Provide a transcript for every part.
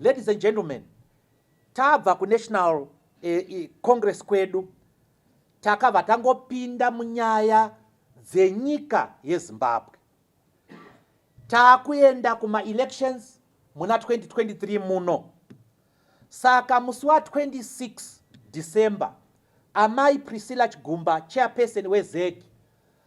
Ladies and gentlemen, tabva kuNational eh, eh, Congress kwedu takabva tangopinda munyaya dzenyika yeZimbabwe. Takuenda kumaelections muna 2023 muno. Saka musi wa 26 December, Amai Priscilla Chigumba, chairperson weZEC,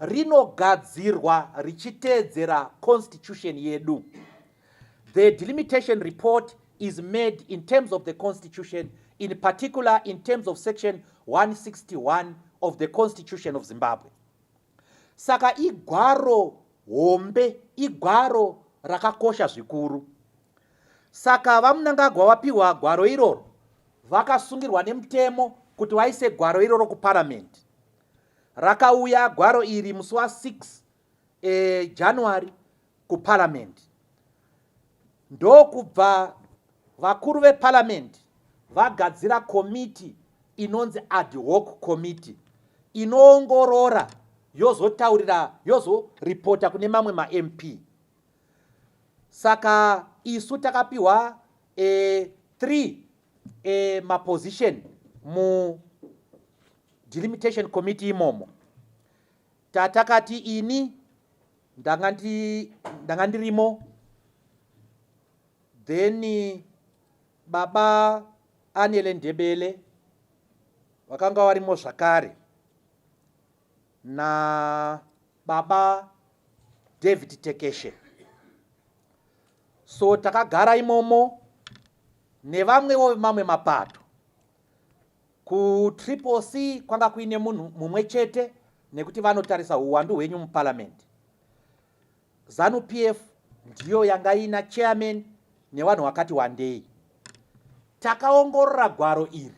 rinogadzirwa richiteedzera constitution yedu the delimitation report is made in terms of the constitution in particular in terms of section 161 of the constitution of zimbabwe saka igwaro hombe igwaro rakakosha zvikuru saka vamunangagwa vapiwa gwaro iroro vakasungirwa nemutemo kuti vaise gwaro iroro kuparamende Rakauya gwaro iri musi wa 6 e, January kuparliament ndokubva vakuru veparliament vagadzira komiti inonzi ad hoc committee inoongorora yozotaurira yozoripota kune mamwe mamp saka isu takapiwa e, three e, maposition mu delimitation committee imomo tatakati ini ndanga ndi ndanga ndirimo then baba anele ndebele vakanga varimo zvakare na baba david tekeshe so takagara imomo nevamwewo vemamwe mapato kutriple c kwanga kuine munhu mumwe chete nekuti vanotarisa uwandu hwenyu muparliamendi zanu p f ndiyo yanga ina chairman nevanhu vakati wandei takaongorora gwaro iri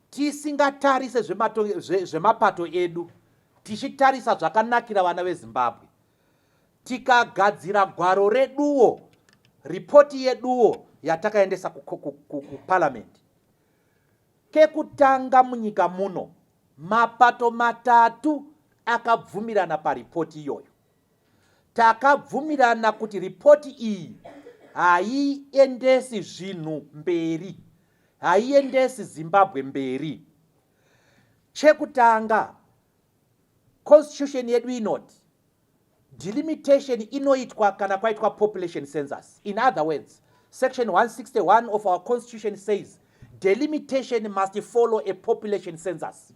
tisingatarise zvemapato edu tichitarisa zvakanakira vana vezimbabwe tikagadzira gwaro reduwo ripoti yeduwo yatakaendesa kuparamende kekutanga munyika muno mapato matatu akabvumirana paripoti iyoyo takabvumirana kuti ripoti iyi haiendesi zvinhu mberi haiendesi zimbabwe mberi chekutanga Constitution yedu inoti delimitation inoitwa kana kwaitwa population census. In other words, section 161 of our constitution says delimitation must follow a population census.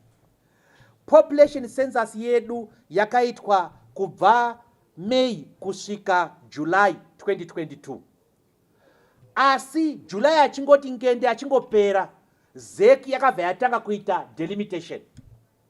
Population census yedu yakaitwa kubva May kusvika July 2022. Asi July achingoti ngende achingopera, ZEC yakabva yatanga kuita delimitation.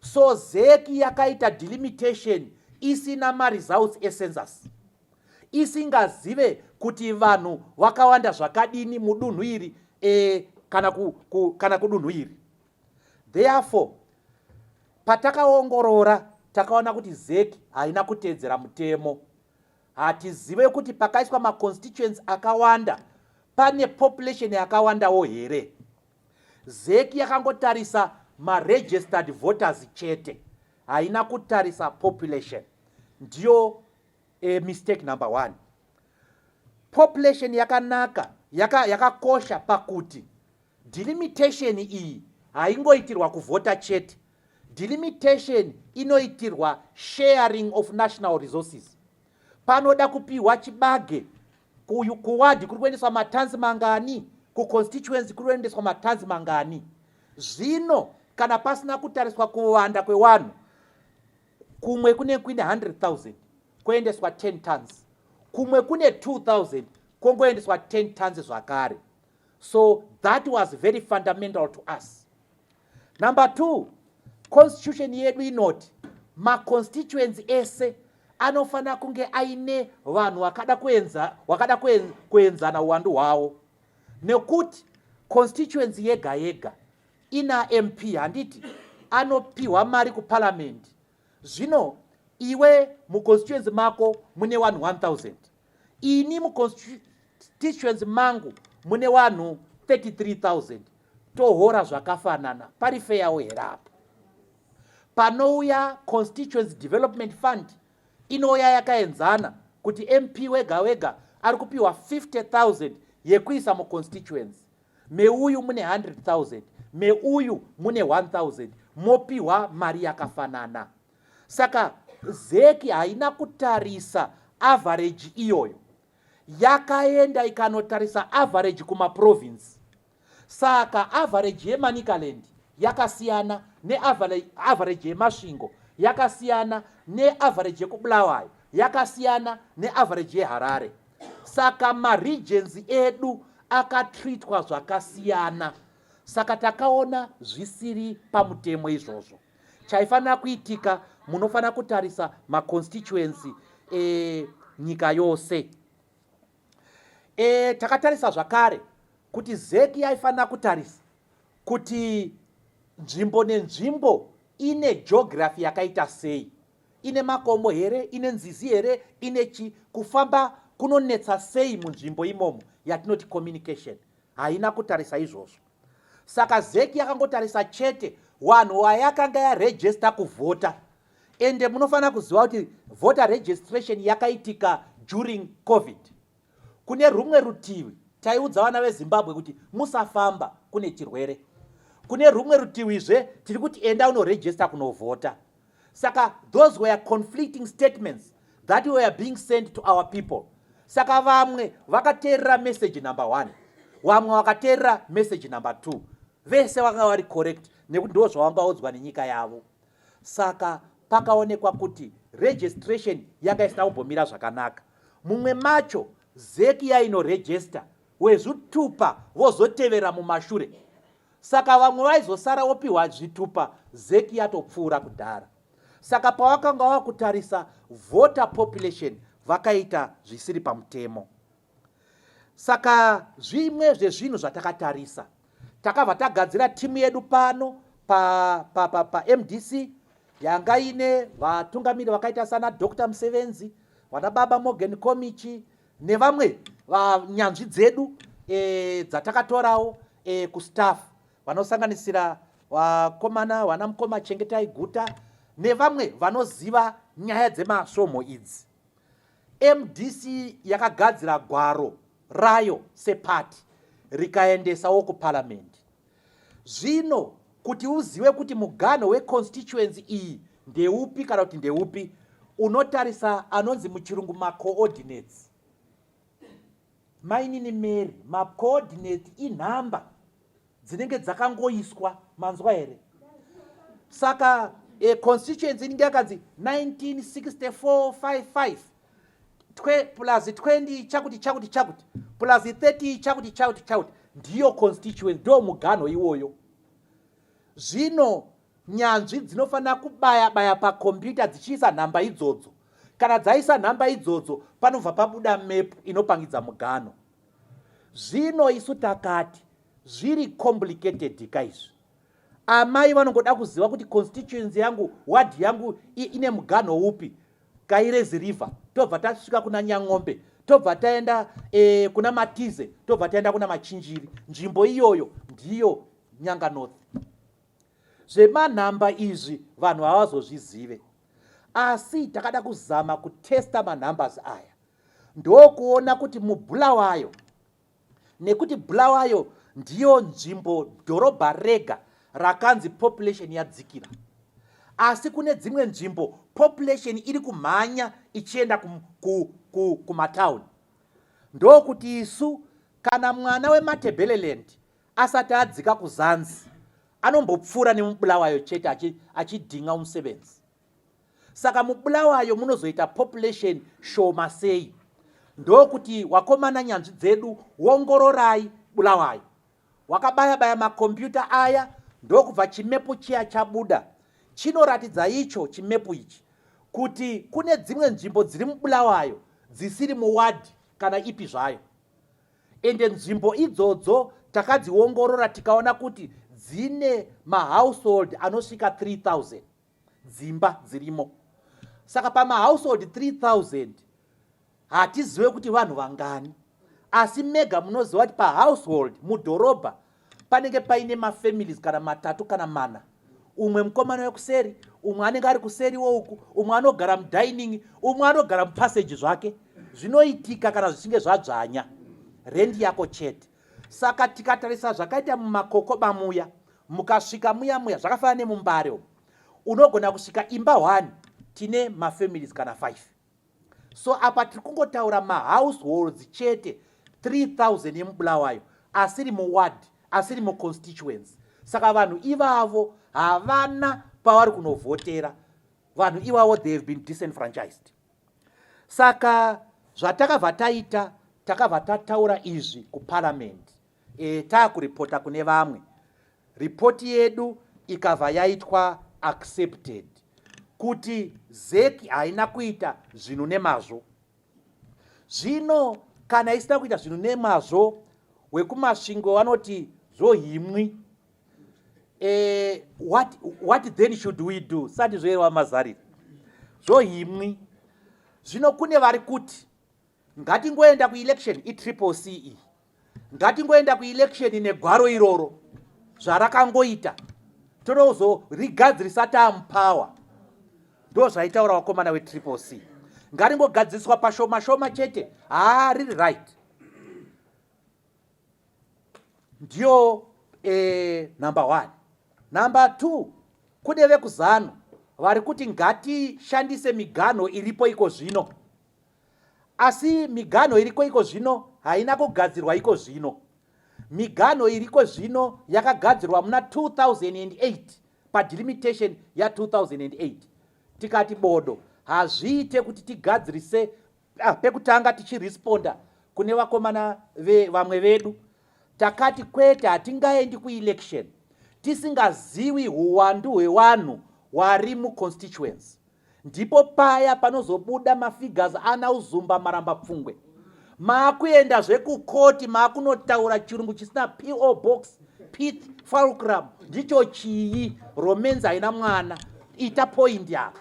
So zec yakaita delimitation isina maresults ecensus isingazive kuti vanhu vakawanda zvakadini mudunhu iri e, kana, ku, ku, kana kudunhu iri therefore patakaongorora takaona kuti zec haina kutedzera mutemo hatizive kuti pakaiswa maconstituents akawanda pane population yakawandawo here Zec yakangotarisa maregistered voters chete haina kutarisa population ndiyo e, mistake number one population yakanaka yakakosha yaka pakuti delimitation iyi haingoitirwa kuvhota chete delimitation inoitirwa sharing of national resources panoda kupihwa chibage kuwadhi kuri kuendeswa matanzi mangani kuconstituency kuri kuendeswa matanzi mangani zvino kana pasina kutariswa kuwanda kwewanhu kumwe kune kuine 100000 koendeswa 10 tons kumwe kune 2000 kongoendeswa 10 tons zvakare so that was very fundamental to us Number two, constitution yedu inoti maconstituency ese anofanira kunge aine vanhu wakada kuenza, wakada kuenzana uwandu hwavo nekuti constituency yega yega ina mp handiti anopiwa mari kuparliament zvino iwe muconstituency mako mune vanhu 1000 ini muconstituency mangu mune vanhu 33000 tohora zvakafanana pari feyawo here apo panouya constituency development fund inouya yakaenzana kuti mp wega wega ari kupiwa 50000 yekuisa muconstituency meuyu mune 100,000 meuyu mune 1,000 mopiwa mari yakafanana saka zeki haina kutarisa avhareji iyoyo yakaenda ikanotarisa avhareji kumaprovinsi saka avhareji yemanicaland yakasiyana neavhareji yemasvingo yakasiyana neavhareji yekubulawayo yakasiyana neavhareji yeharare saka maregency edu akatreatwa zvakasiyana saka takaona zvisiri pamutemo izvozvo chaifanira kuitika munofanira kutarisa maconstituency e, nyika yose e, takatarisa zvakare kuti zeki yaifanira kutarisa kuti nzvimbo nenzvimbo ine geography yakaita sei Ine makomo here? Ine nzizi here? Ine chi? Kufamba kunonetsa sei munzvimbo imomo yatinoti communication? Haina kutarisa izvozvo. Saka zeki yakangotarisa chete wanhu wayakanga yarejesta kuvhota. Ende munofanira kuziva kuti voter registration yakaitika during covid. Kune rumwe rutivi, taiudza vana veZimbabwe kuti musafamba kune chirwere. Kune rumwe rutiwizve tiri kuti enda unoregista kunovhota. Saka those were conflicting statements that were being sent to our people. Saka vamwe vakateerera message number one, vamwe vakateerera message number two. Vese vakanga vari correct nekuti ndo zvavanga odzwa nenyika yavo. Saka pakaonekwa kuti registration yanga isina kumbomira zvakanaka. Mumwe macho zeki yainoregesta wezvitupa vozotevera mumashure saka vamwe vaizosara wopiwa zvitupa zeki yatopfuura kudhara saka pawakanga wakutarisa voter population vakaita zvisiri pamutemo saka zvimwe zvezvinhu zvatakatarisa Takabva tagadzira timu yedu pano pa, pa, pa, pa mdc yanga ine vatungamiri vakaita sana dr musevenzi vana baba morgan komichi nevamwe vanyanzvi dzedu e, dzatakatorawo e, kustaff vanosanganisira vakomana vana mukoma chengetai guta nevamwe vanoziva nyaya dzemasvomho idzi Mdc yakagadzira gwaro rayo sepati rikaendesawo kuparamende. Zvino kuti uzive kuti muganho weconstituency iyi ndeupi kana kuti ndeupi unotarisa anonzi muchirungu macoordinates Mainini Mary, macoordinate inhamba dzinenge dzakangoiswa manzwa here? Saka e, constituency inenge yakanzi 196455 twe plus 20 chakuti chakuti chakuti plus 30 chakuti chakuti chakuti ndiyo constituency ndo muganho iwoyo. Zvino Nyanzvi dzinofanira kubaya baya pakombiyuta dzichiisa nhamba idzodzo. Kana dzaisa nhamba idzodzo, panobva pabuda mepu inopangidza mugano. Zvino isu takati zviri complicated ka izvi. Amai vanongoda kuziva kuti constituency yangu, ward yangu ine mugano upi, Kairezi River, tobva tasvika kuna Nyang'ombe, tobva taenda e, kuna Matize, tobva taenda kuna Machinjiri. Nzvimbo iyoyo ndiyo Nyanga North. Zvemanhamba izvi vanhu havazozvizive asi takada kuzama kutesta manumbers aya ndokuona kuti mubulawayo nekuti bulawayo ndiyo nzvimbo dhorobha rega rakanzi population yadzikira asi kune dzimwe nzvimbo population iri kumhanya ichienda kumatauni ndokuti isu kana mwana wematebeleland Asati adzika kuzanzi, anombopfuura nemubulawayo chete achi, achidhinga umusebenzi. Saka mubulawayo munozoita population shoma sei? Ndokuti wakomana nyanzvi dzedu wongororai bulawayo. Wakabaya baya makombiyuta aya ndokubva chimepu chiya chabuda chinoratidza icho chimepu ichi kuti kune dzimwe nzvimbo dziri mubulawayo dzisiri muwadhi kana ipi zvayo ende nzvimbo idzodzo takadziongorora tikaona kuti dzine mahousehold anosvika 3000 dzimba dzirimo saka pamahousehold 3000 hatizive kuti vanhu vangani asi mega munoziva kuti pahousehold mudhorobha panenge paine mafamilies kana matatu kana mana umwe mukomana wekuseri umwe anenge ari kuseri wouku umwe anogara mudining umwe anogara mupasage zvake zvinoitika kana zvichinge zvadzvanya rendi yako chete saka tikatarisa zvakaita mumakokoba muya mukasvika muya muya zvakafanana nemumbare umu unogona kusvika imba one tine mafamilies kana five so apa tiri kungotaura mahouseholds chete 3000 yemubulawayo asiri muward asiri muconstituency saka vanhu ivavo havana pavari kunovhotera vanhu ivavo they have been disenfranchised saka zvatakabva taita takabva tataura izvi kuparliament E, taakuripota kune vamwe ripoti yedu ikabva yaitwa accepted kuti zeki haina kuita zvinhu nemazvo zvino kana isina kuita zvinhu nemazvo wekumasvingo vanoti zvohimwi e, what, what then should we do sati zvoyerwa mazariro zvohimwi zvino kune vari kuti ngatingoenda kuelection itriple ce iyi ngatingoenda kuelection negwaro iroro zvarakangoita totozorigadzirisa tamupower ndo zvaitaura vakomana wetriple c ngaringogadziriswa pashoma shoma chete haa riri right ndiyo e, number one number two kune vekuzano vari kuti ngatishandise miganho iripo iko zvino Asi miganho iriko iko zvino haina kugadzirwa iko zvino. Miganho iriko zvino yakagadzirwa muna 2008 padilimitation ya 2008 tikati bodo hazviite kuti tigadzirise ah, pekutanga tichiresponda kune vakomana vamwe vedu takati kwete hatingaendi kuelection tisingaziwi huwandu hwewanhu wari muconstituency ndipo paya panozobuda mafigures ana uzumba maramba pfungwe maakuenda zvekukoti maakunotaura chirungu chisina po box pith falcram ndicho chii romenzi haina mwana ita poindi apa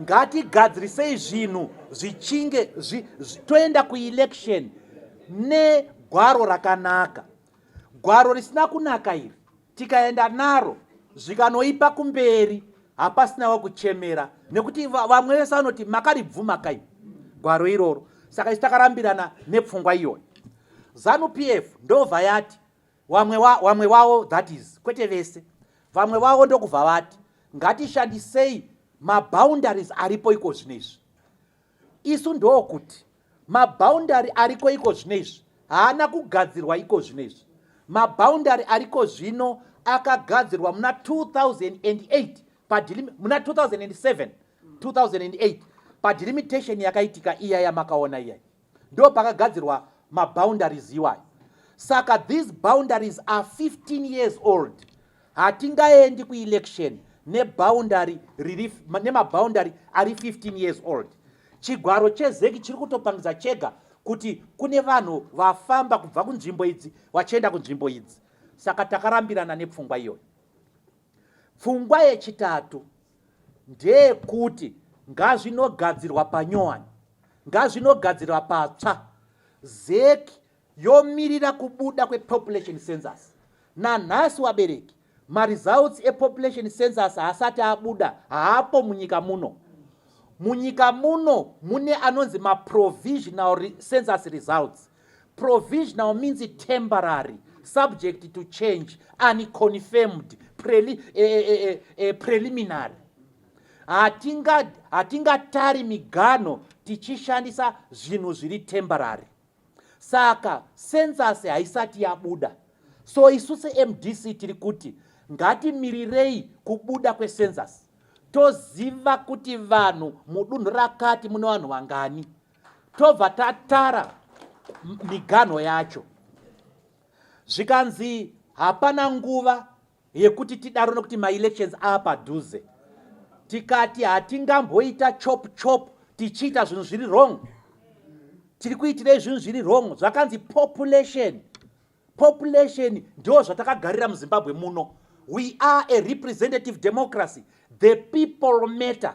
ngatigadzirisei zvinhu zvichinge zvi, zvi, toenda kuelection negwaro rakanaka gwaro risina kunaka iri tikaenda naro zvikanoipa kumberi hapasina wakuchemera nekuti vamwe vese vanoti makaribvuma kai gwaro iroro saka isu takarambirana nepfungwa iyoyo zanu p f ndobva yati wamwe wa, wamwe wawo that is kwete vese vamwe vavo ndokubva vati ngatishandisei maboundaries aripo iko zvino izvi Isu ndokuti maboundary ariko iko zvino izvi haana kugadzirwa iko zvino izvi. Maboundary ariko zvino akagadzirwa muna 2008 padilimi, muna 2007 2008 padilimitation yakaitika iya yamakaona iyayi ndo pakagadzirwa maboundaries iwayo saka these boundaries are 15 years old Hatingaendi kuelection neboundary riri nemaboundary ari 15 years old. Chigwaro chezeki chiri kutopangidza chega kuti kune vanhu vafamba kubva kunzvimbo idzi vachienda kunzvimbo idzi. Saka takarambirana nepfungwa iyoyo. Pfungwa yechitatu ndeyekuti ngazvinogadzirwa panyowani, ngazvinogadzirwa patsva. Zeki yomirira kubuda kwepopulation census nanhasi wabereki maresults epopulation census haasati abuda haapo munyika muno munyika muno mune anonzi maprovisional re census results provisional means temporary subject to change unconfirmed preli, eh, eh, eh, eh, eh preliminary hatingatari hatinga miganho tichishandisa zvinhu zviri temporary saka sensasi haisati yabuda so isu semdc tiri kuti ngatimirirei kubuda kwesensasi toziva kuti vanhu mudunhu rakati mune vanhu vangani tobva tatara miganho yacho zvikanzi hapana nguva yekuti tidaro nekuti maelections ava padhuze tikati hatingamboita chop chop tichiita zvinhu zviri wrong tiri kuitirei zvinhu zviri wrong zvakanzi population population ndo zvatakagarira muzimbabwe muno we are a representative democracy the people matter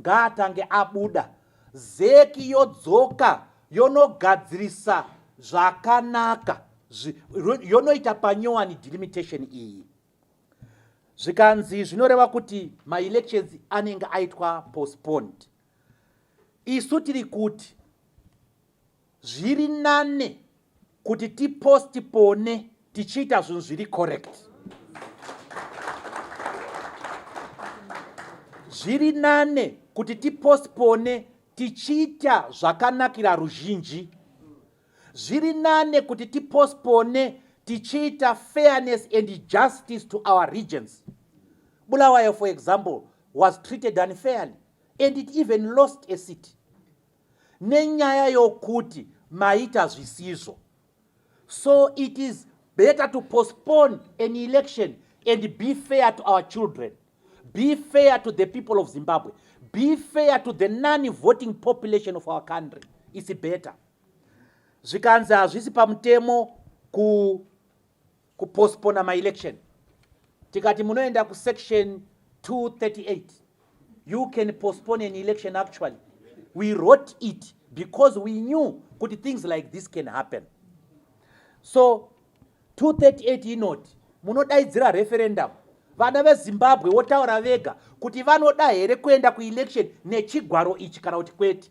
Ngaatange abuda zeki yodzoka yonogadzirisa zvakanaka yonoita panyowani delimitation iyi zvikanzi zvinoreva kuti maelections anenge aitwa postponed isu tiri kuti zviri nane kuti tipostpone tichiita zvinhu zviri correct zviri nane kuti tipostpone tichiita zvakanakira ruzhinji zviri nane kuti tipostpone tichiita fairness and justice to our regions bulawayo for example was treated unfairly and it even lost a city nenyaya yokuti maita zvisizvo so it is better to postpone an election and be fair to our children be fair to the people of zimbabwe be fair to the non voting population of our country its better zvikanzi hazvisi pamutemo ku kupospona maelection tikati munoenda kusection 238 you can postpone an election actually we wrote it because we knew kuti things like this can happen so 238 inoti munodaidzira referendum vana vezimbabwe votaura vega kuti vanoda here kuenda kuelection nechigwaro ichi kana kuti kwete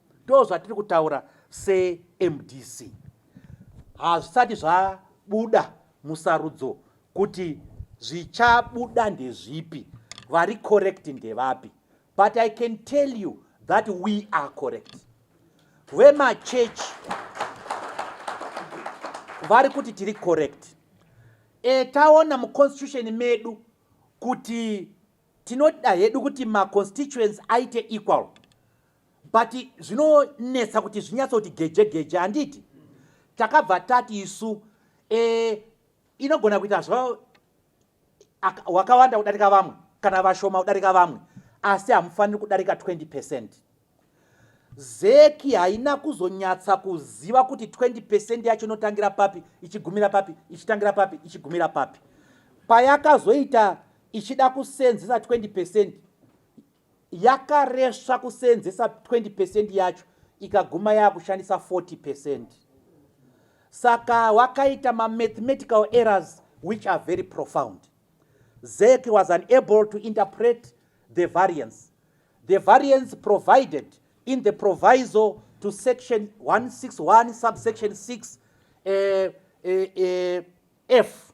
ndozvatiri kutaura semdc hazvisati zvabuda musarudzo kuti zvichabuda ndezvipi vari correct ndevapi but i can tell you that we are correct vemachechi vari kuti tiri correct e, taona muconstitution medu kuti tinoda hedu kuti maconstituents aite equal but zvinonetsa kuti zvinyatsa kuti geje geje handiti takabva tati isu e, inogona kuita zva wakawanda kudarika vamwe kana vashoma kudarika vamwe asi hamufaniri kudarika 20 percent zeki haina kuzonyatsa kuziva kuti 20 percent yacho inotangira papi ichigumira papi ichitangira papi ichigumira papi payakazoita ichida kusenzesa 20 percent yakaresva kuseenzesa 20 percent yacho ikaguma yakushandisa 40 percent saka wakaita mamathematical errors which are very profound zek was unable to interpret the variance the variance provided in the proviso to section 161 subsection 6 uh, eh, uh, eh, uh, eh, f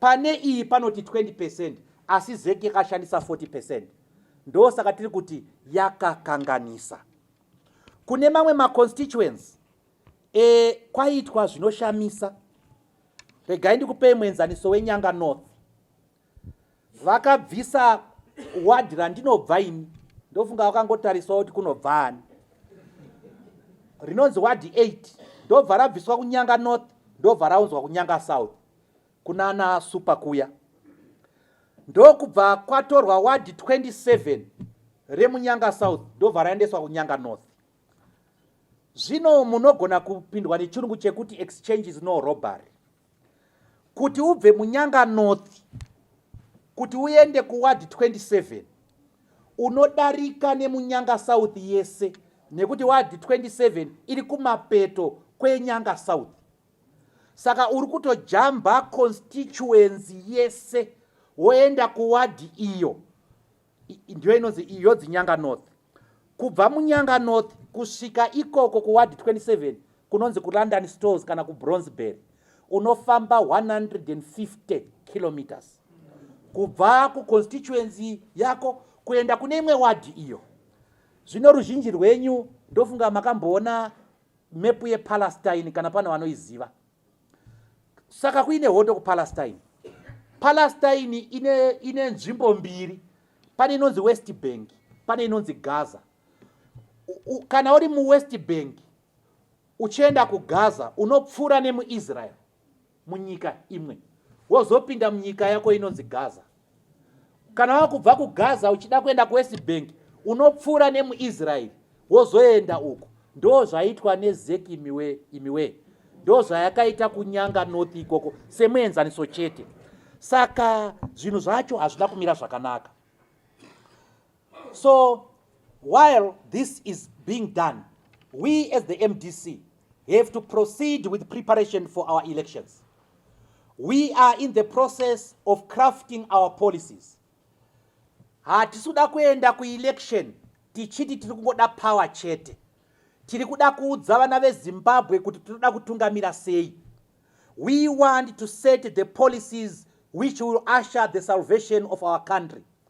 Pane iyi panoti 20 percent asi zec yakashandisa 40 percent ndosaka tiri kuti yakakanganisa kune mamwe maconstituency e, kwaitwa zvinoshamisa regai ndikupei muenzaniso wenyanga north vakabvisa wadhi randinobva ini ndofunga vakangotarisawo kuti kunobva ani rinonzi wadhi 8 ndobva rabviswa kunyanga north ndobva raunzwa kunyanga south kunana super kuya ndokubva kwatorwa wadhi 27 remunyanga south ndobva raendeswa kunyanga north zvino munogona kupindwa nechirungu chekuti exchange is no robbery kuti ubve munyanga north kuti uende kuward 27 unodarika nemunyanga south yese nekuti ward 27 iri kumapeto kwenyanga south saka uri kutojamba constituency yese woenda kuward iyo ndiyo inonzi iyo dzinyanga north kubva munyanga north kusvika ikoko kuwadi 27 kunonzi kulondon stores kana kubronzeberry unofamba 150 kilometers kubva kuconstituency yako kuenda kune imwe wadhi iyo zvino ruzhinji rwenyu ndofunga makamboona mepu yepalestine kana pane vanoiziva saka kuine hondo kupalestine palestine ine, ine nzvimbo mbiri pane inonzi west bank pane inonzi gaza U, kana uri muwest bank uchienda kugaza unopfuura nemuisrael munyika imwe wozopinda munyika yako inonzi gaza kana wakubva kugaza uchida kuenda kuwest bank unopfuura nemuisraeri wozoenda uku ndo zvaitwa nezek imiwe imiwe ndo zvayakaita kunyanga north ikoko semuenzaniso chete saka zvinhu zvacho hazvina kumira zvakanaka so while this is being done we as the mdc have to proceed with preparation for our elections we are in the process of crafting our policies hatisi kuda kuenda kuelection tichiti tiri kungoda power chete tiri kuda kuudza vana vezimbabwe kuti tinoda kutungamira sei we want to set the policies which will usher the salvation of our country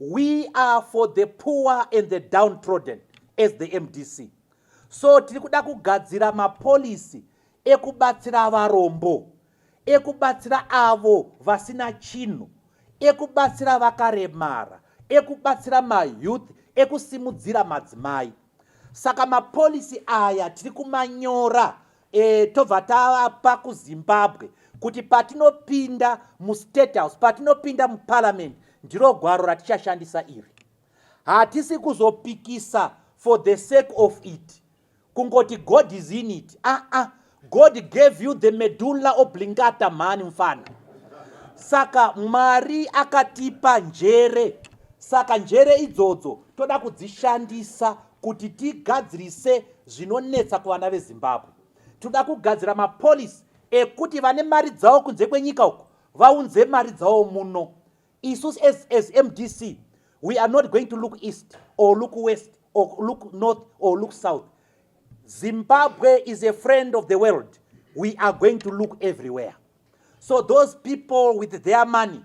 we are for the poor and the downtrodden as the mdc so tiri kuda kugadzira mapolisi ekubatsira varombo ekubatsira avo vasina chinhu ekubatsira vakaremara ekubatsira mayouth ekusimudzira madzimai saka mapolisi aya tiri kumanyora e, tobva tavapa kuzimbabwe kuti patinopinda mustate house patinopinda muparliament ndiro gwaro ratichashandisa iri hatisi kuzopikisa for the sake of it kungoti god is in it aa ah, ah. god gave you the medulla oblingata mhani mfana saka mwari akatipa njere saka njere idzodzo toda kudzishandisa kuti tigadzirise zvinonetsa kuvana vezimbabwe toda kugadzira mapolisi ekuti vane mari dzavo kunze kwenyika uku vaunze mari dzavo muno isu as, as mdc we are not going to look east or look west or look north or look south zimbabwe is a friend of the world we are going to look everywhere so those people with their money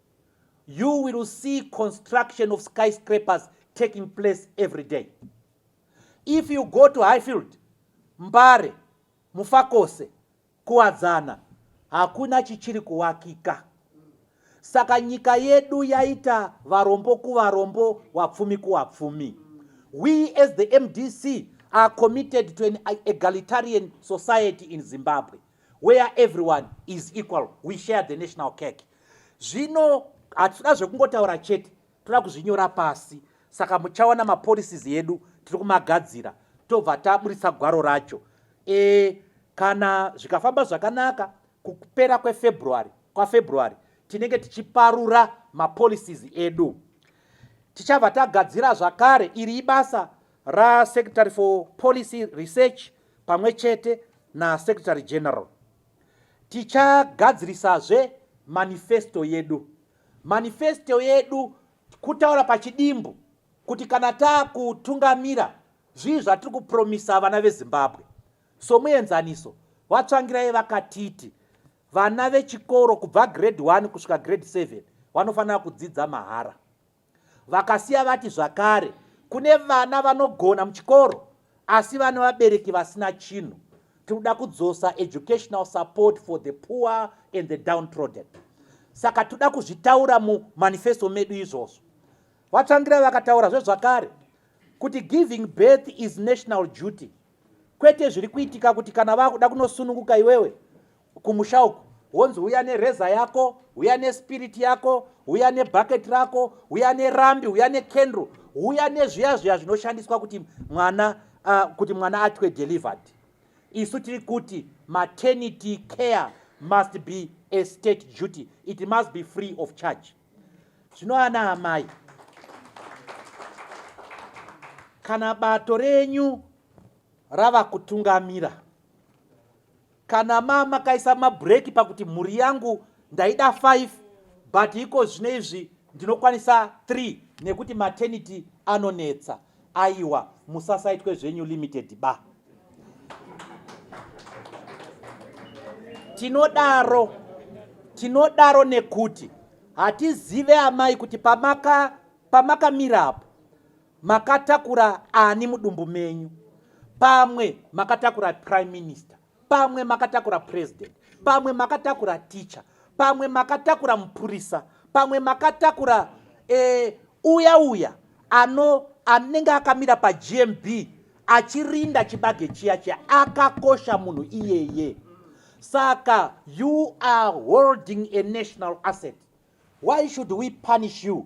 you will see construction of skyscrapers taking place every day if you go to highfield mbare mufakose kuwadzana hakuna chichiri kuwakika saka nyika yedu yaita varombo kuvarombo wapfumi kuwapfumi we as the mdc are committed to an egalitarian society in zimbabwe where everyone is equal we share the national cake zvino hatitoda zvekungotaura chete toda kuzvinyora pasi saka muchaona mapolicies edu tiri kumagadzira tobva taburitsa gwaro racho e, kana zvikafamba zvakanaka kupera kwefebruary kwafebruary tinenge tichiparura mapolicies edu tichabva tagadzira zvakare iri ibasa RaSecretary for Policy Research pamwe chete naSecretary General. Tichagadzirisazve manifesto yedu. Manifesto yedu kutaura pachidimbu kuti kana taakutungamira zvii zvatiri kupromisa vana vezimbabwe somuenzaniso vatsvangirai vakatiti vana vechikoro kubva grade 1 kusvika grade 7 vanofanira kudzidza mahara Vakasiya vati zvakare kune vana vanogona muchikoro asi vane vabereki vasina chinhu. Tiri kuda kudzosa educational support for the poor and the downtrodden. Saka toda kuzvitaura mumanifesto medu izvozvo. VaTsvangirai vakataurazve zvakare kuti giving birth is national duty. kwete zviri kuitika kuti kana vakuda kunosununguka iwewe kumusha uku wonzi uya nereza yako uya nespiriti yako uya nebhaketi rako uya nerambi uya nekendro uya nezviya zviya zvinoshandiswa kuti mwana uh, kuti mwana atwe delivered isu tiri kuti maternity care must be a state duty it must be free of charge Zvino ana amai, kana bato renyu rava kutungamira, kana mama kaisa mabhureki pakuti mhuri yangu ndaida 5 but iko zvino izvi ndinokwanisa 3 nekuti maternity anonetsa Aiwa musasaitwe zvenyu limited ba. Tinodaro tinodaro nekuti hatizive amai kuti pamaka pamakamira apo makatakura ani mudumbu menyu pamwe makatakura prime minister pamwe makatakura president pamwe makatakura teacher pamwe makatakura mupurisa pamwe makatakura eh, uya uya ano anenge akamira pagmb achirinda chibage chiya chiya akakosha munhu iyeye saka you are holding a national asset why should we punish you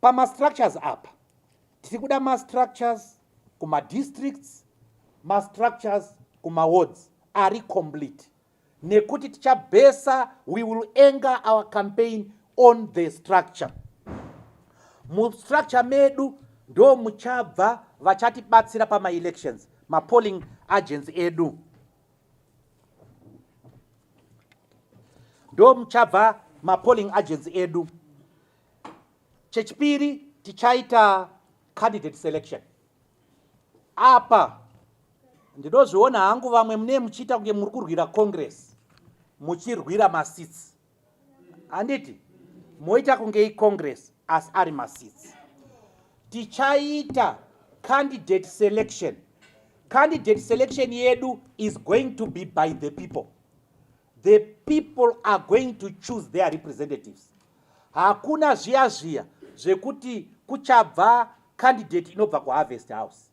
pamastructures apa tiri kuda mastructures kumadistricts mastructures kumawards ari complete nekuti tichabhesa we will anger our campaign on the structure mustructure medu ndo muchabva vachatibatsira pamaelections mapolling agents edu ndo muchabva mapolling agents edu Chechipiri tichaita candidate selection. Apa ndinozviona hangu vamwe mune muchiita kunge muri kurwira congress muchirwira masitsi handiti moita kunge icongress asi ari masitsi tichaita candidate selection candidate selection yedu is going to be by the people the people are going to choose their representatives Hakuna zviya zviya zvekuti kuchabva candidate inobva kuharvest house.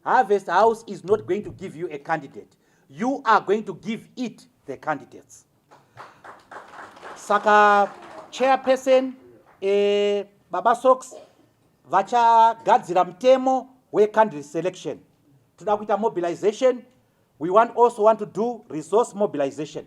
Harvest house is not going to give you a candidate. You are going to give it the candidates. Saka chairperson eh, Baba Sox vachagadzira mutemo wecandidate selection. Toda kuita mobilization. We want also want to do resource mobilization.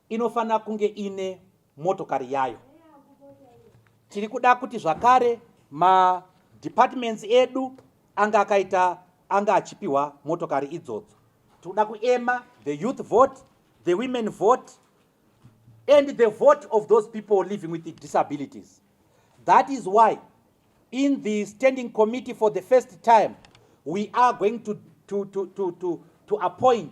inofanira kunge ine motokari yayo tiri kuda kuti zvakare madepartments edu anga akaita anga achipiwa motokari idzodzo tikuda kuema the youth vote the women vote and the vote of those people living with the disabilities that is why in the standing committee for the first time we are going to, to, to, to, to, to appoint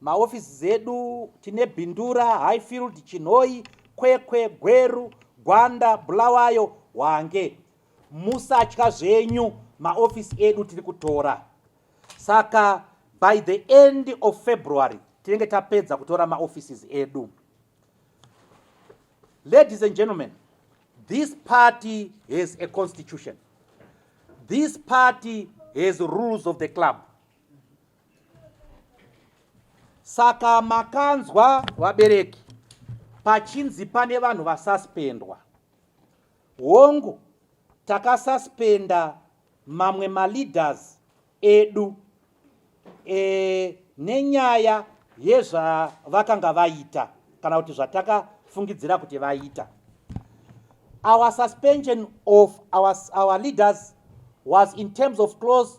Maofisi zedu tine Bindura, Highfield, Chinhoyi, Kwekwe, Gweru, Gwanda, Bulawayo, Hwange. Musatya zvenyu maofisi edu tiri kutora. Saka by the end of February tinenge tapedza kutora maoffices edu. Ladies and gentlemen, this party has a constitution. This party has rules of the club. Saka makanzwa vabereki pachinzi pane vanhu vasuspendwa. Hongu takasuspenda mamwe maleaders edu e, nenyaya yezvavakanga vaita kana kuti zvatakafungidzira kuti vaita. Our suspension of our, our leaders was in terms of close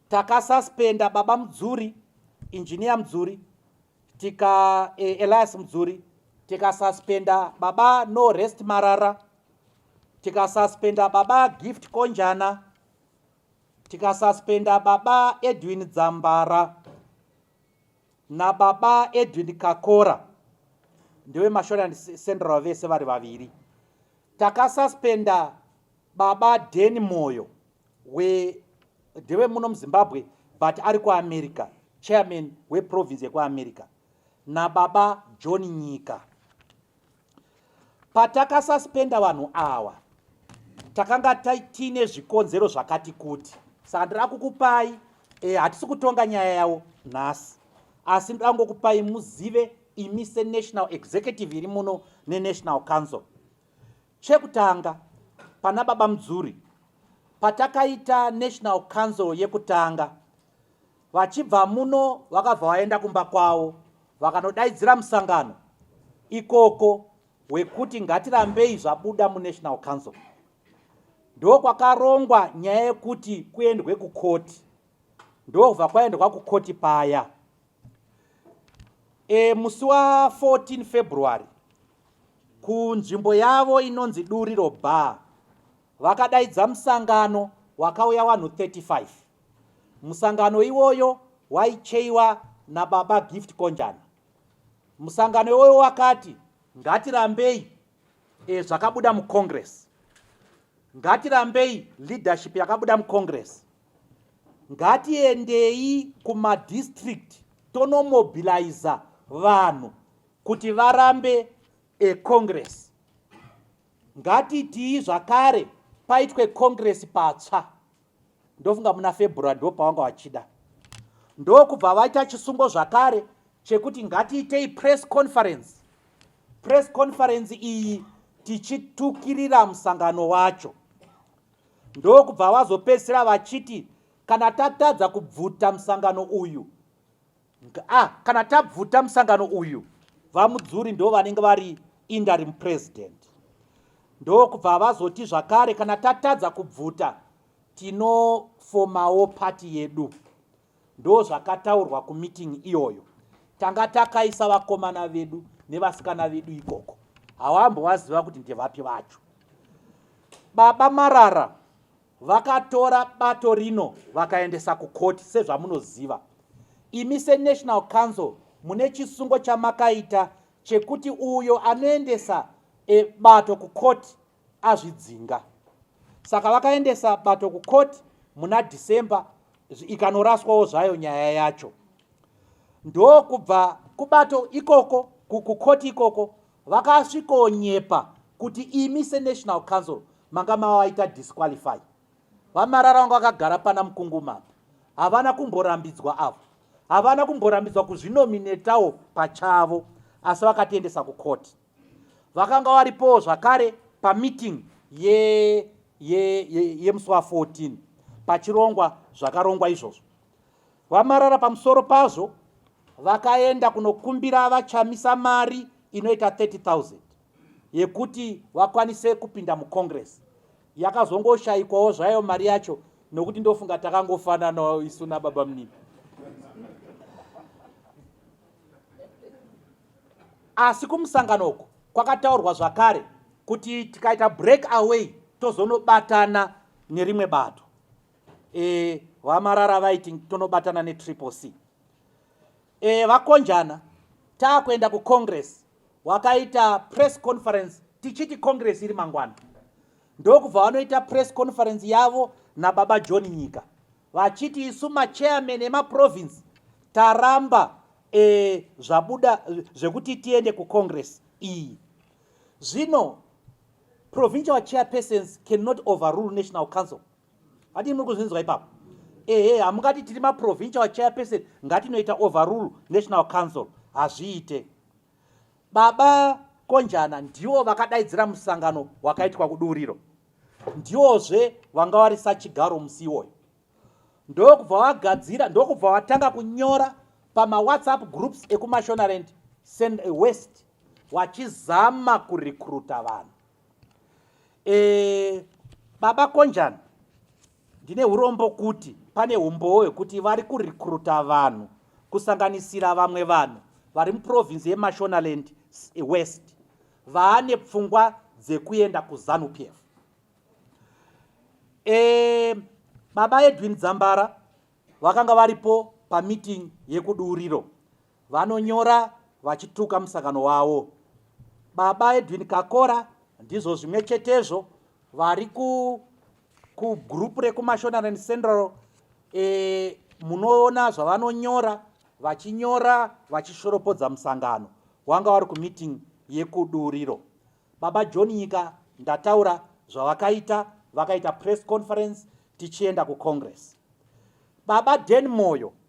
Takasuspenda baba Mudzuri, engineer Mudzuri, tika eh, Elias Mudzuri, tikasuspenda baba No Rest Marara, tikasuspenda baba Gift Konjana, tikasuspenda baba Edwin Dzambara na baba Edwin Kakora ndewe Mashore and Central vese vari vaviri. Takasuspenda Baba Denny Moyo we ndewe muno muzimbabwe but ari kuamerica chairman weprovince yekuamerica nababa john nyika patakasuspenda vanhu awa takanga tiine zvikonzero zvakati kuti saka ndiri akukupai e, hatisi kutonga nyaya yavo nhasi asi ndiri angokupai muzive imi senational executive iri muno nenational council Chekutanga, pana Baba Mudzuri, patakaita National Council yekutanga, vachibva muno vakabva vaenda kumba kwavo vakanodaidzira musangano ikoko wekuti ngatirambei zvabuda muNational Council. Ndokwakarongwa nyaya yekuti kuendwe kukoti, ndokubva kwaendwa kukoti paya. E, musi wa 14 February kunzvimbo yavo inonzi Duriro Bar vakadaidza musangano wakauya vanhu 35 musangano iwoyo waicheiwa nababa Gift Konjana musangano iwoyo wakati ngatirambei e, zvakabuda mucongress ngatirambei leadership yakabuda mucongress ngatiendei kumadistrict tonomobiliza vanhu kuti varambe a congress ngatitii zvakare paitwe congress patsva ndofunga muna february ndo pavanga vachida ndokubva vaita chisungo zvakare chekuti ngatiitei press conference press conference iyi tichitukirira musangano wacho ndokubva vazopedzisira vachiti kana tatadza kubvuta musangano uyu Ah, kana tabvuta musangano uyu vamudzuri ndo vanenge vari interim president ndokubva vazoti zvakare kana tatadza kubvuta tinofomawo pati yedu ndo zvakataurwa kumiting iyoyo tanga takaisa vakomana vedu nevasikana vedu ikoko hawambovaziva kuti ndevapi vacho baba marara Vakatora bato rino vakaendesa kukoti sezvamunoziva. Imi seNational Council mune chisungo chamakaita chekuti uyo anoendesa e, bato kukoti azvidzinga. Saka vakaendesa bato kukoti muna December ikanoraswawo zvayo nyaya yacho. Ndokubva kubato ikoko kukukoti ikoko Vakasvikonyepa kuti imi seNational Council manga mavaita disqualify. VaMarara vanga vakagara pana Mukungumapa. Havana kumborambidzwa avo. Havana kumborambidzwa kuzvinominetawo pachavo asi vakatiendesa kucourt. Vakanga varipowo zvakare pameeting yemusi wa 14 pachirongwa zvakarongwa izvozvo. VaMarara pamusoro pazvo vakaenda kunokumbira VaChamisa mari inoita 30,000 yekuti vakwanise kupinda mucongress yakazongoshayikwawo zvayo mari yacho nokuti ndofunga takangofananawo isu nababa munini asi kumusangano uku kwakataurwa zvakare kuti tikaita break away tozonobatana nerimwe bato e, vamarara vaiti tonobatana netriple c e, vakonjana taakuenda kucongress wakaita press conference tichiti congress iri mangwana ndokubva vanoita press conference yavo nababa john nyika vachiti isu machairman emaprovince taramba e, zvabuda zvekuti tiende kucongress iyi zvino provincial chairpersons cannot overrule national council Hadi muri kuzvinzwa ipapo. Ehe, hamungati tiri maprovincial chairperson ngatinoita overrule National Council. Hazviite. Baba Konjana ndiwo vakadaidzira musangano wakaitwa kuduriro. Ndiwozve vanga vari sachigaro musi iwoyo. Ndokubva vagadzira, ndokubva vatanga kunyora pama WhatsApp groups ekuMashonaland West wachizama kurecruita vanhu. e, baba konjan ndine urombo kuti pane umbowo hwekuti vari kurekruta vanhu kusanganisira vamwe vanhu vari muprovinsi yemashonaland west vaane pfungwa dzekuenda kuzanu p f e, baba edwin dzambara vakanga varipo pamiting yekuduriro Vanonyora vachituka musangano wavo. Baba Edwin Kakora ndizvo zvimwe chetezvo vari ku kugroup rekumashonaland central e, munoona zvavanonyora vachinyora vachishoropodza musangano wanga wari kumeeting yekuduriro baba john nyika ndataura zvavakaita vakaita press conference tichienda kucongress baba den moyo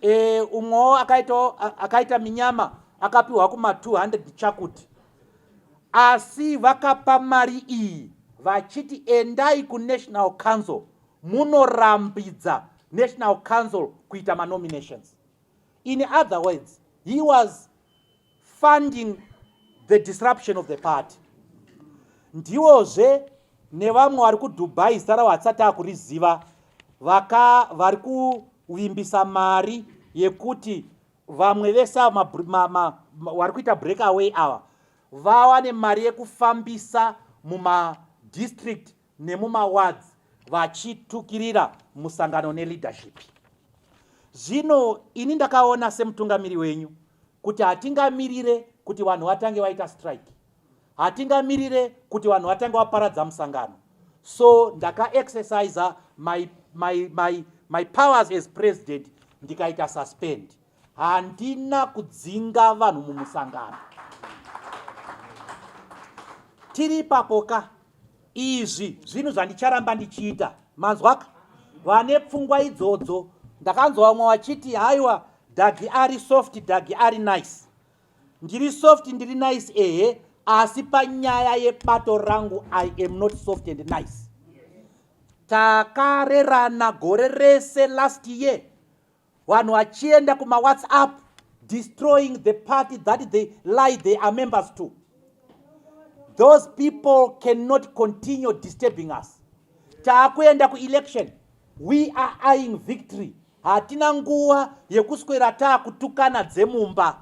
e, umwewo akaitawo akaita minyama akapiwa kuma 200 chakuti asi vakapa mari iyi vachiti endai kunational council munorambidza national council kuita manominations in other words he was funding the disruption of the party ndiwozve nevamwe vari kudubai zita ravo hatisati akuriziva vaka vari kuvimbisa mari yekuti vamwe vese vari kuita break away ava vawane mari yekufambisa mumadistrict nemumawards vachitukirira musangano neleadership zvino ini ndakaona semutungamiri wenyu kuti hatingamirire kuti vanhu vatange vaita strike hatingamirire kuti vanhu vatange vaparadza musangano so ndakaexercisa my, my, my, my powers as president ndikaita suspend handina kudzinga vanhu mumusangano tiri ipapoka Izvi zvinhu zvandicharamba ndichiita. Manzwaka? Vane pfungwa idzodzo. Ndakanzwa vamwe vachiti haiwa Dagi ari soft, Dagi ari nice. Ndiri soft, ndiri nice ehe, asi panyaya yebato rangu I am not soft and nice. Takarerana gore rese last year vanhu vachienda kumawhatsapp destroying the party that they lie they are members to those people cannot continue disturbing us taakuenda kuelection we are eyeing victory hatina nguva yekuswera taakutukana dzemumba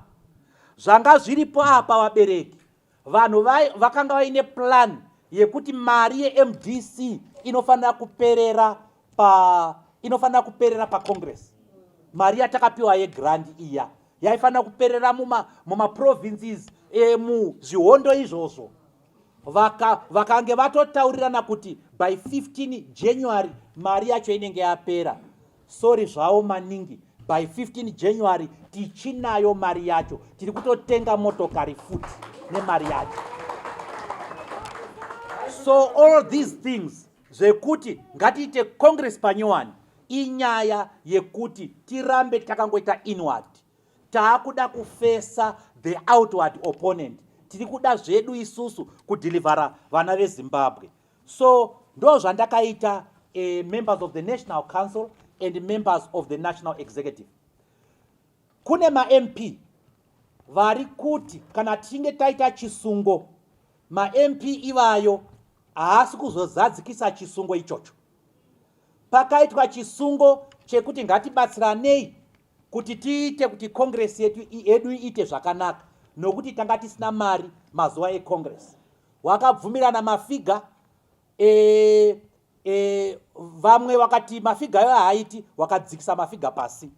zvanga zviripo apa vabereki vanhu vai vakanga vaine plan yekuti mari yemdc inofanira kuperera pa inofanira kuperera pacongress mari yatakapiwa yegrand iya yaifanira kuperera mumaprovinces muma emuzvihondo izvozvo vaka, vakange vatotaurirana kuti by 15 january mari yacho inenge yapera Sorry zvawo maningi by 15 January tichinayo mari yacho tiri kutotenga motokari futi nemari yacho so all these things zvekuti ngatiite congress panyowani inyaya yekuti tirambe takangoita inward taakuda kufesa the outward opponent tiri kuda zvedu isusu kudhilivhara vana vezimbabwe so ndozvandakaita uh, members of the national council and members of the national executive kune mamp vari kuti kana tichinge taita chisungo mamp ivayo haasi kuzozadzikisa chisungo ichocho pakaitwa chisungo chekuti ngatibatsiranei kuti tiite kuti congress yetu yedu iite zvakanaka nokuti tanga tisina mari mazuva econgress wakabvumirana mafiga e, e, vamwe wakati mafiga ayo haaiti wakadzikisa mafiga pasi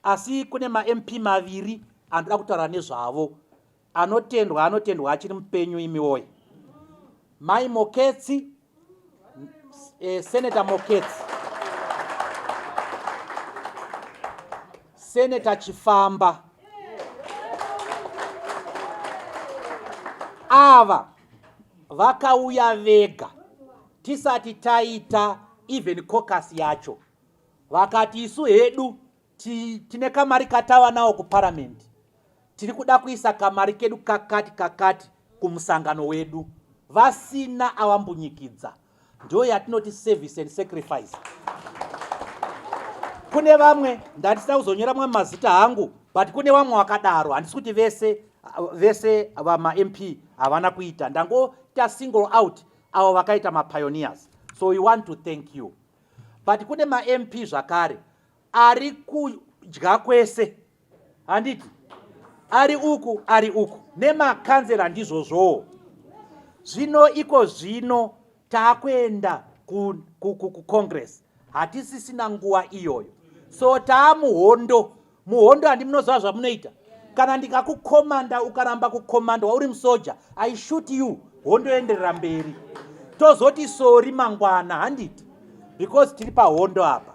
asi kune mamp maviri anoda kutaura nezvavo Anotendwa anotendwa achiri mupenyu imi woye. Mai Moketsi eh, Senator Moketsi Senator Chifamba ava vakauya vega tisati taita even cocus yacho vakati isu hedu tine kamari katava nawo kuparamend tiri kuda kuisa kamari kedu kakati kakati kumusangano wedu vasina avambunyikidza ndiyo yatinoti service and sacrifice kune vamwe ndatisa kuzonyora mwe mazita hangu but kune vamwe vakadaro handisi kuti vese vese vamamp havana kuita ndangoita single out avo vakaita mapioneers so we want to thank you but kune mamp zvakare ari kudya kwese handiti ari uku ari uku nemakanzera ndizvozvowo zvino iko zvino taakuenda kucongress hatisisina nguva iyoyo so taamuhondo muhondo handi munoziva zvamunoita kana ndikakukomanda ukaramba kukomanda wauri musoja i shoot you hondo yoenderera mberi tozoti sori mangwana handiti because tiri pahondo apa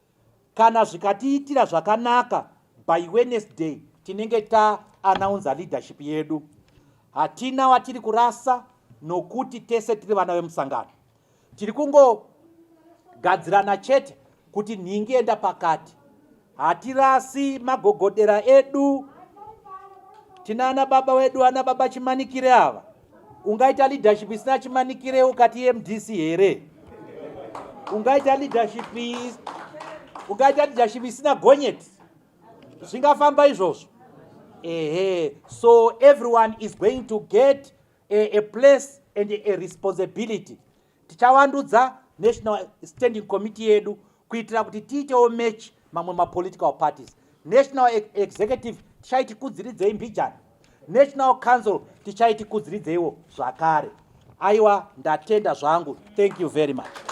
Kana zvikatiitira zvakanaka by Wednesday tinenge ta announcer leadership yedu. Hatina watiri kurasa nokuti tese tiri vana vemusangano. Tiri kungogadzirana chete kuti nhingi enda pakati. Hatirasi magogodera edu. Tinana baba wedu ana baba chimanikire ava. ungaita leadership isina chimanikire ukati mdc here ungaita leadership ungaita leadership isina gonyeti zvingafamba izvozvo ehe so everyone is going to get a, a place and a responsibility tichavandudza national standing committee yedu kuitira kuti tiitewo match mamwe mapolitical parties national executive tichaiti kudziridzei mbijana national council tichaiti kudziridzeiwo zvakare aiwa ndatenda zvangu thank you very much